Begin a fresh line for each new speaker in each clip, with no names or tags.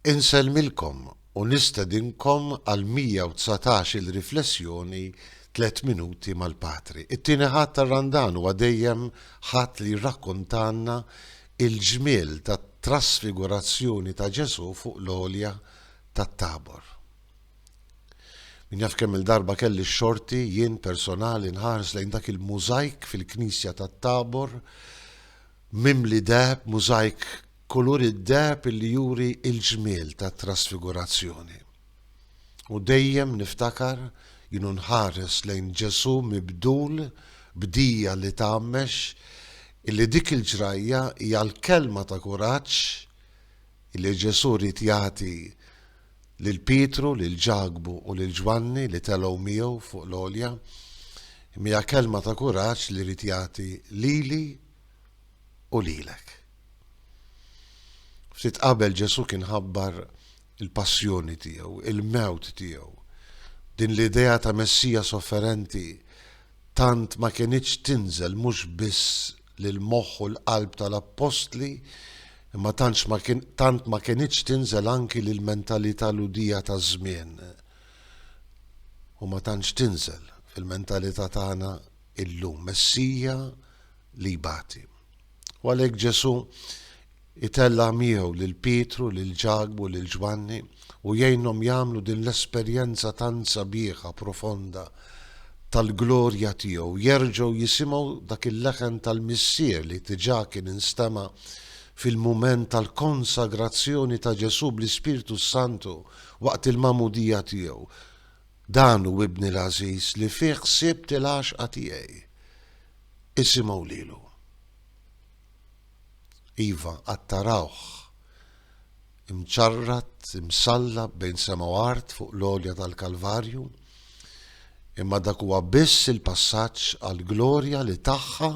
Insellmilkom u nistedinkom għal 119 il-Riflessjoni Tliet Minuti mal-Patri. It-Tieni Ħadd tar-Randan huwa dejjem Ħadd li jirrakkontalna l-ġmiel tat-trasfigurazzjoni ta' Ġesù fuq l-għolja tat-Tabor. Min jaf kemm-il darba kelli x-xorti jien personali nħares lejn dak il-mużajk fil-Knisja tat-Tabor mimli deheb, mużajk kulur id-deheb li juri l-ġmiel tat-Trasfigurazzjoni. U dejjem niftakar, jien u nħares lejn Ġesù mibdul b'dija li tgħammex, illi dik il-ġrajja hija l-kelma ta' kuraġġ illi Ġesù ried jagħti lil Pietru, lil Ġakbu u lil Ġwanni li telgħu miegħu fuq l-għolja, imma hija kelma ta' kuraġġ li jrid jagħti lili u lilek. Ftit qabel Ġesù kien ħabbar il-passjoni tiegħu, il-mewt tiegħu. Din l-idea ta' Messija sofferenti tant ma kinitx tinżel mhux biss li l-moħħ u l-qalb tal-appostli, imma tantx ma kien, tant ma kienitx tinżel anki lil mentalità ludija taż-żmien. U ma tantx tinżel fil-mentalità tagħna illum, Messija li jbati. U għalhekk Ġesù Itella' miegħu lil Pietru, lil Ġakbu, lil Ġwanni, u jgħinhom jagħmlu din l-esperjenza tant sabiħa, profonda, tal-glorja tiegħu, jerġgħu jisimgħu dak il-leħen tal-Missier li diġà kien instema' fil-mument tal-konsagrazzjoni ta' Ġesù bl-Ispirtu s-Santu waqt il-magħmudija tiegħu, Dan hu Ibni l-għażiż li fih sibt il-għaxqa tiegħi. Isimgħu lilu. Iva, għad tarawh, imċarrat, imsallab bejn sema u art fuq l-għolja tal-Kalvarju, imma dak huwa biss il-passaġġ għall-glorja li tagħha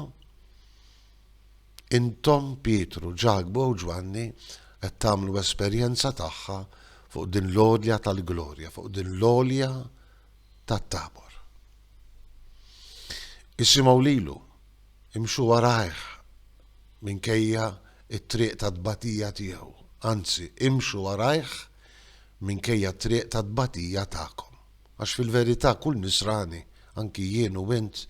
intom Pietru, Ġakbu u Ġwanni qed tagħmlu esperjenza tagħha fuq din l-għolja tal-glorja, fuq din l-għolja tat-tabor. Isimgħu lilu, Imxu warajh minkejja t-triq tat-tbatija tiegħu, anzi, imxu warajh minkejja t-triq tat-tbatija tagħkom. Għax fil-verità kull Nisrani, anki jien u int,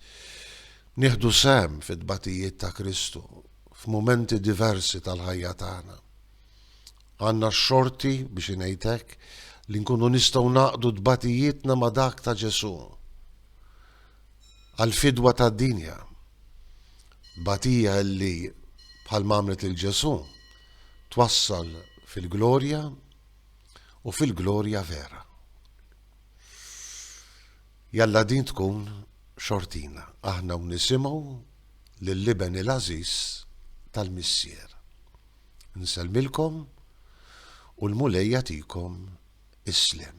nieħdu sehem fit-tbatijiet ta' Kristu f'mumenti diversi tal-ħajja tagħna. Għandna x-xorti, biex ngħid hekk, li nkunu nistgħu ngħaqqdu tbatijietna ma' dak ta' Ġesù. għall-fidwa tad-dinja. Tbatija li, bħalma għamlet lil Ġesù, twassal fil-glorja u fil-glorja vera. Jalla din tkun xortina aħna u nisimgħu lill-Iben il-għażiż tal-Missier. Nsellmilkom u l-Mulej jagħtikom is-sliem.